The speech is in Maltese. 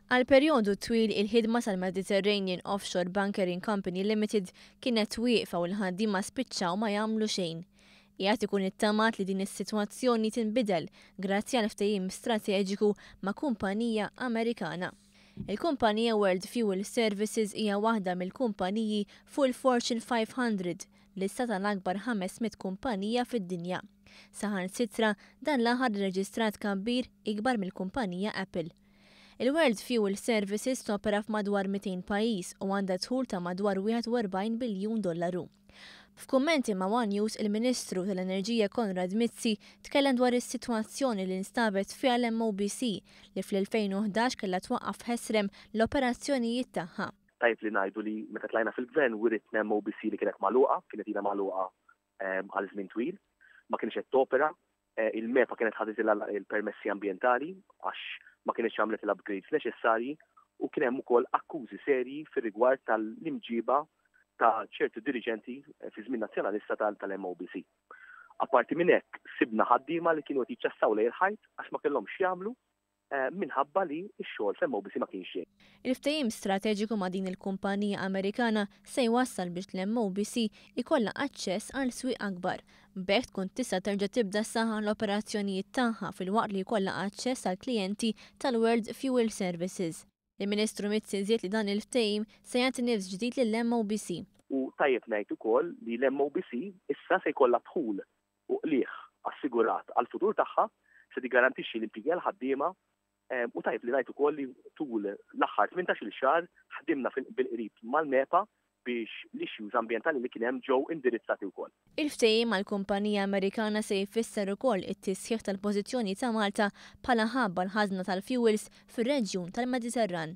Għal perjodu twil il-ħidma tal-Mediterranean Offshore Bunkering Company Limited kienet wieqfa u l-ħaddiema spiċċaw ma jagħmlu xejn. Qiegħed ikun ittamat li din is-sitwazzjoni tinbidel grazzi għal ftehim strateġiku ma' kumpanija Amerikana. Il-kumpanija World Fuel Services hija waħda mill-kumpaniji fuq il-Fortune 500 lista tal-akbar 500 kumpanija fid-dinja. Saħansitra, dan l-aħħar irreġistra tkabbir ikbar mill-kumpanija Apple. Il-World Fuel Services topera f'madwar 200 pajjiż u għandha dħul ta' madwar 41 biljun dollaru. F'kummenti ma' one News il-Ministru tal-Enerġija Konrad Mizzi tkellem dwar is-sitwazzjoni li nstabet fiha l-MOBC li fl-2011 kellha twaqqaf ħesrem l-operazzjonijiet tagħha. Tajjeb li ngħidu li meta tlajna fil-Gvern wiritna MOBC li kienet magħluqa, kienet ilha magħluqa ehm, għal żmien twil, ma kienx qed topera, eh, il-MEPA kienet ħaditilha il-permessi ambjentali għax ma kienx għamlet l-upgrades neċessarji u kien hemm ukoll akkużi serji fir-rigward tal-imġiba ta' ċertu dirigenti eh, fi żmien nazzjonalista tal-MOBC. Apparti minn hekk, sibna ħaddiema li kienu qed jiċċassaw lejn il-ħajt għax ma kellhomx jagħmlu minħabba li x-xogħol f'Hemm Obisi ma kienx xejn. Il-ftehim strateġiku ma' din il-kumpanija Amerikana se jwassal biex l-Hemm Obisi jkollha aċċess għal swieq akbar. B'hekk tkun tista' terġa' tibda ssaħħaħ l-operazzjonijiet tagħha filwaqt li jkollha aċċess għall-klijenti tal-World Fuel Services. Il-Ministru Mizzi żied li dan il-ftehim se jagħti nifs ġdid lill-MOBC. U tajjeb ngħid ukoll li l-MOBC issa se jkollha dħul u qligħ assigurat għall-futur tagħha, se tiggarantixxi l-impjiegi għall-ħaddiema u tajjeb li ngħid ukoll li tul l-aħħar tmintax-il xahar ħdimna bil-qrib mal-MEPA biex l-issues ambjentali li kien hemm ġew indirizzati wkoll. Il-ftehim mal-kumpanija Amerikana se jfisser ukoll it-tisħiħ tal-pożizzjoni ta' Malta bħala hub għall-ħażna tal-fjuwils fir-reġjun tal-Mediterran.